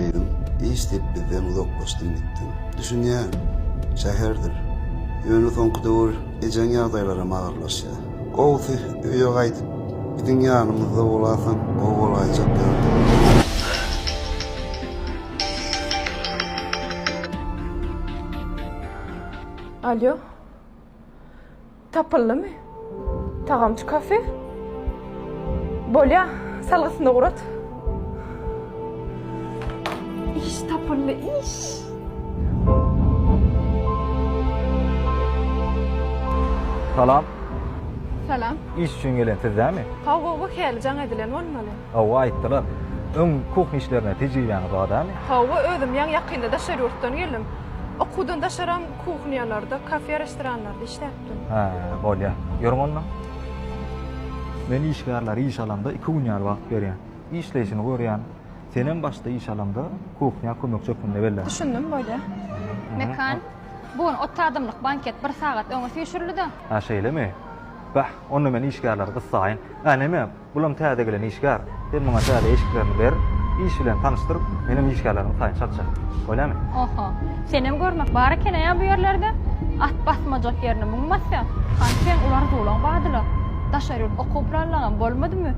Gyzym, iş diýip bizden uzaklaşdyň gitdiň. Düşünýän, şäherdir. Ýöne soňky döwür ejeň ýagdaýlaram agyrlaşýar. Gowusy, öýe gaýdyp, biziň ýanymyzda bolasaň gowy bolaýjak ýaly. Alýo. Tapyldymy tagamçy kafe? Bolýa, salgysyny ugrat. Iş tapyldy, iş! Salam. Salam. Iş üçin gelen siz dämi? Hawa, bu hälli jaň edilen bolmaly. Hawa, aýtdylar. Öň kuhn işlerine tejribäňiz bar dämi? Hawa, özüm ýaňy ýakynda daşary ýurtdan geldim. Okuwdan daşaram Kuhnýalarda, kafe-restoranlarda işläpdim. Hä, bolýar. Ýörüň onda. Men işgärlere iş alamda iki gün ýaly wagt berýän. Işleýşini görýän. Senem başda iş alamda kuhnýa kömekçi hökmünde bellän. Düşündim, bolýar. Mekan, Bu gün otuz adamlyk banket bir sagat öňe süýşürildi-de. Hä, şeýlemi? Bäh, onda men işgärleri gyssaýyn. Ä, näme, Bulam täze gelen işgär. Sen muňa täze eşiklerini ber, iş bilen tanyşdyr, menem işgärlerimiň taýyny çalyşaý. Bolýamy? Oho. Senem görmek bar ekeneýa bu ýerlerde. At basmajak ýerine muň basýa. Hany seň ular zolaň badyla. Daşary ýurt okuw planlaňam bolmadymy?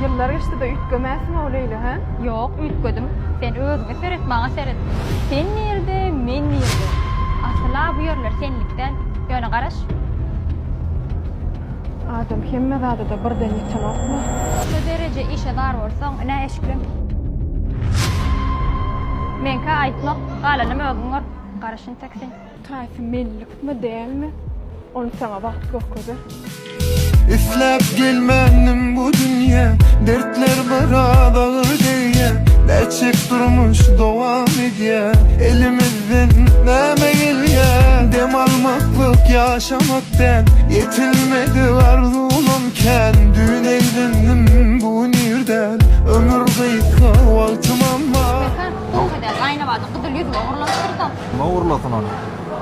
Ýyllar geçdi-de üýtgemäsiň-ow Leýla, hä? Ýok, üýtgedim. Sen özüňe seret, maňa seret. Sen nirede, men nirede? Asyl-a bu ýerler senlik däl. Ýöne garaş. Adam hemme zadada birden ýetenokmy? Şu dereje işe zar bolsaň ine eşikleň. Meňkä aýtmak, galanam özüň gör. Garaş intek sen. Taýsy mellikmi dälmi ony saňa wagt görkezer. Isläp gelmändim bu dünýä Dertler biraz agyr degýä Näçeek durmuş dowam edýä Elimiz Sen näme gelýäň dem almaklyk ýaşamak däl Ýetilmedi arzuwym kän Düýn eýlendim bu gün ýerden Ömür gysga wagtym amma. Mekan soňky edýär gaýynabada gyzyl ýüzüme urlanypdyrsoň. Kime urlasyn ony?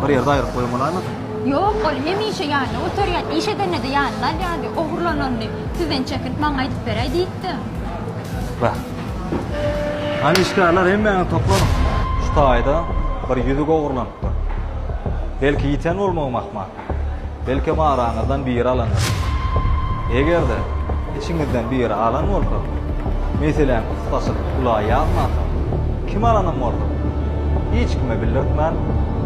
Bir ýerde aýryp goýup bolaýmasyn? Ýok, ol hemişe ýanyna göterýär. Iş edende-de ýanyna alýardy. Ogurlananyny sizden çekilip maňa aýdyp beräý diýipdim. Wah. Hany işgärler hemmäňiz toplanyň. Şu taýda bir ýüzük ogurlanypdyr. Belki ýiten bolmagym ahmal. Belkem araňyzdan biri alandyr. Eger-de içiňizden biri alan bolsa, meseläni pursatçylyk ula ýazmansoň, kim alanym bolsa, hiç kime bildirtmän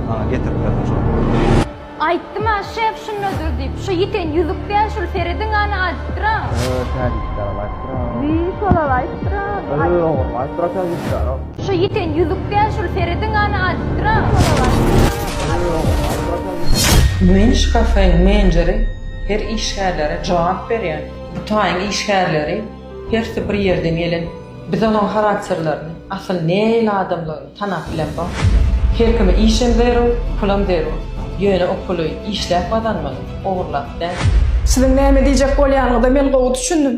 maňa getirip bermeli. Aýtdym-a, şef şundadyr diýip. Şu ýiten ýüzük däl, şul serediň hany aýdypdyr-a. Öö, täjikçägem aýdypdyr-a. Wiý, şol-al aýdypdyr-a. Öö, oňam aýdypdyr-a täjikçägem. Şu ýiten ýüzük däl, şul serediň hany aýdypdyr-a. Wiý, şol-al aýdypdyr-a. Öö, oňam aýdypdyr-a täjikçägem. Men şu kafeýiň menjeri, her işgärlere jogap berýän. Bu taýyň işgärleri hersi bir ýerden gelen. Biz olaryň harakterlerini, asyl nähili adamdygyny. Tanap bilemsoň, her kime işem zerur, pulam zerur. Ýöne o puly işläp gazanmaly, ogurlap däl. Siziň näme diýjek bolýanyňyza men gowy düşündim.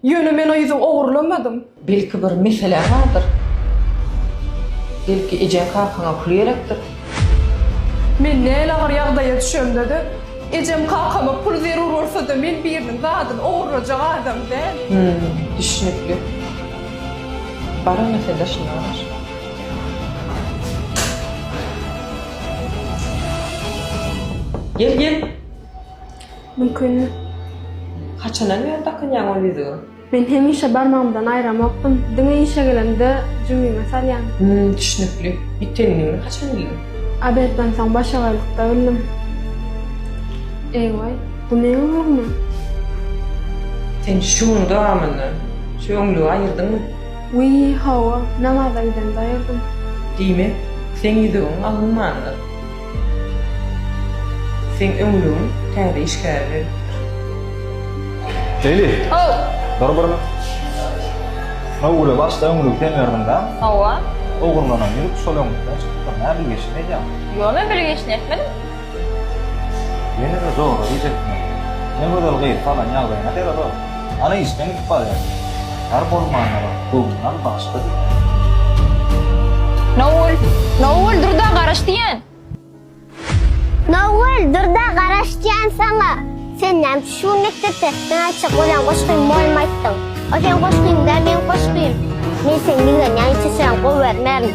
Ýöne men o ýüzi ogurlamadym. Belki bir meseläň bardyr? Belki ejeň-kakaňa pul gerekdir? Men näl agyr ýagdaýa düşemde-de, ejem-kakama pul zerur bolsa-da men biriniň zadyny ogurlajak adam däl. Hüm, düşnükli. Bara mesele şunda garaş. Gel gel. Mümkin. Haçandan bäri dakynýaň ol ýüzügi? Men hemişe barmagymdan aýramokdym. Diňe işe gelemde jübime salýan. Hüm, düşnükli. Ýitenini haçan bildiň? Obedden soň başagaylykda bildim. Eý we. Bu meň oglummy? Sen şu gün dowamynda şu öňlügi aýyrdyňmy? Wiý, hawa, namaza gidende aýyrdym. Diýmek, seň ýüzügiň alynmandyr. Seň öňlügiň täze işgäre berlipdir. Leyli! How! Dur bir. Şunuň uly başda öňlügi sen berdiň dä? Hawa. Ogurlanan ýüzük şol öňlükden çykypdyr. Näbilgeşini edýäň? Ýo, men bilgeşini etmedim. Ýene-de zorluk iýjekmi? Ne gözel gyz salan ýagdaýyna seret-o! Ana işden gidip barýar. Tar bolmandyr, göwnüňal bagşy diýýär. Nowgül! Nowgül, dur-da, garaş diýýän! Nowgül, dur-da, garaş diýýän saňa! Sen näme üçin şu gün mekdepde Näçe gören goşgyň bolmaýtdyň? O seň goşgyň-da, meň goşgym. Men seni ýigrenýän içe süren gowy görmerin.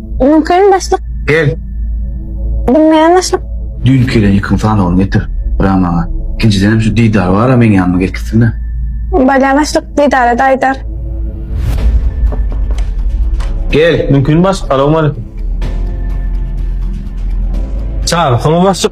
Mümkin başlyk. Gel. Bilmeýän başlyk. Düýnki gelen ýykyň sanawyny getir. Bra maňa. Ikinjidenem şu Didar bar-a meň ýanyma gelip gitsin-le. Bolýa başlyk, Didara da aýdar. Gel. Mümkin başlyk, salowmaleýkim. Çagyrsana başlyk.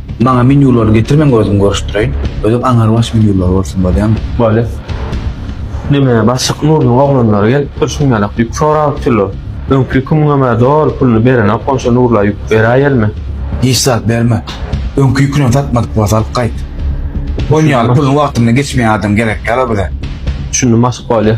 Maňa menýulary getirmeň özüm görüşdireýin. Özem aňarbaş menýulary bolsun bolýamy? Bole. Diňe başlyk Nurynyň oglanlary gelip dur şuň ýalak ýük sorap durlar. Öňki ýükümiňem-ä doly puluny berenok bolsa Nurla ýük beräýelmi? Hiç zat berme. Öňki ýükünem satmadyk bolsa alyp gaýt. Onuň ýaly puluň wagtynda geçmeýän adam gerekýär-ow bize. Düşündim başlyk bolýa.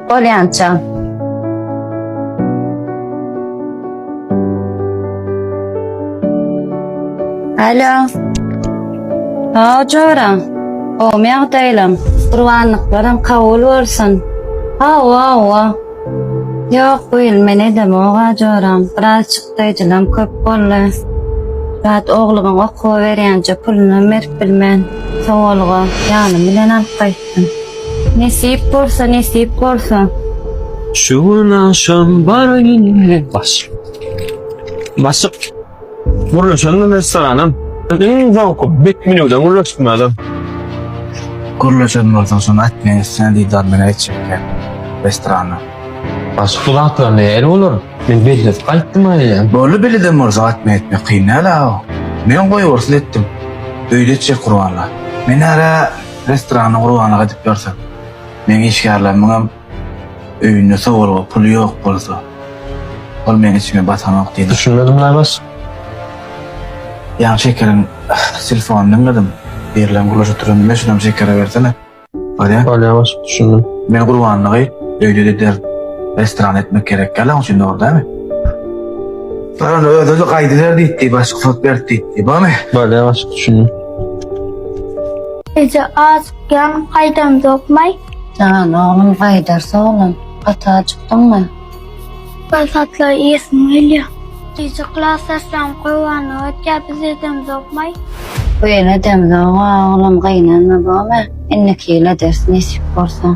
Bolýança. Alo. Sag joram. Gowmy ýagdaýlaň? Gurbanlyklaryň kabul bolsun. Hawa, hawa. Ýok, bu ýyl men edemok-a joram. Biraz çykdaýjylam köp boldy. Zat oglumyň okuwa berýänçä pulunam berip bilmen. Sowalga, ýanym bilen alyp gaýt. Nesip bolsa, nesip bolsa. Şu gün aşam bar ýene baş. Başyk. Gurluşanyň restoranym. Iň zowky bet menüden gurluşdum özüm. Gurluşan bolsaň şony aýt men üstüne diýdar bilen etjekler restorana. Başyk bu zatlar nähili bolar? Men belledip gaýtdym aýe. Boldy beleden bolsa aýt men etmek kyn däl-ä. Men goýbersiz etdim. Öýde etjek gurbanlar. Men ara Restoranyň urganyk edip ýörsek, meň işgärlerimiňem öýünde sowalga puly ýok bolsa, ol meň içime batanok diýdim. Düşünmedim Laýbas. Ýaň Şekeriň telefonyny diňledim. Birlen gulaja turan diýme şunam Şekere bersene. Bolýa. Bolýa başlyk düşündim. Men gurbanlygy öýde eder restoran etmek gerek däl oň üçin dogry dämi? Ýöne özüni gaýdyber diýipdi başlyk sot berip diýipdi. Bormy? Bolýa başlyk düşündim. Eje azykýan gaýdamzokmaý? Jan oglum gaýdarys oglan. Gaty ajykdyňmy? Bir zatlar iýesim gelýär. Eje klas açsaň Gurbana ötýär biz edemzokmaý? Buýyl edemzok oglum gynanma bome indiki ýyl ederis nesip bolsa.